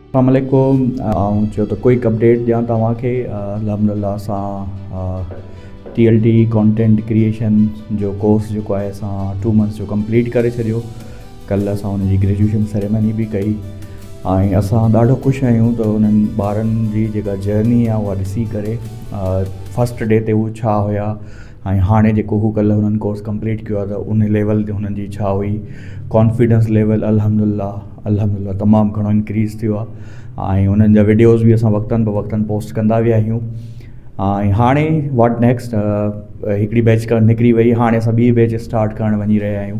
السلام عليڪم آئون چيو ته ڪوئڪ اپڊيٽ ڏيان توهان کي الحمد لله اسان T L T content creation جو ڪورس جيڪو آهي اسان ٽو منٿس جو ڪمپليٽ ڪري ڇڏيو ڪلهه اسان هن جي گريجوئيشن سيريمني به ڪئي ۽ اسان ڏاڍو خوش آهيون ته انهن ٻارن جي جيڪا جرني آهي اها ڏسي ڪري فسٽ ڊي تي هو ڇا هيا ۽ هاڻي جيڪو هو ڪلهه هنن ڪورس ڪمپليٽ ڪيو آهي ته ان ليول تي هنن جي ڇا هئي ڪانفيڊنس ليول الحمد لله الحمد لله تمام گهڻو انڪريز ٿيو آهي ۽ انهن جا وڊيوز به اسان وقتن به وقتن پوسٽ ڪندا ويا آهيون ۽ هاڻي واٽ نيڪسٽ هڪڙي بيچ ڪرنٽ نڪري وئي هاڻي اسان ٻي بيچ اسٽارٽ ڪرڻ وڃي رهيا آهيون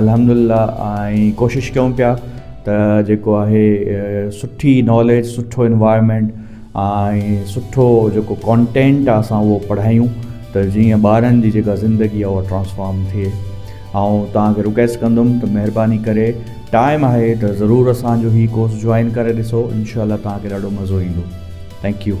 الحمدلله ۽ ڪوشش ڪيون پيا ته جيڪو آهي سٺي ناليج سٺو انوائرمينٽ ۽ سٺو جيڪو ڪانٽينٽ آهي اسان اهو پڙهايون ته جيئن ٻارن جي جيڪا زندگي آهي اهو ٽرانسفارم ٿئي آئون توهان کي رڪويسٽ ڪندم ته مهرباني ڪري ٽائم آهي ته ضرور اسان جو هي ڪورس جوائن ڪري ڏسو انشاء الله توهان کي ڏاڍو مزو ايندو ٿينڪ يو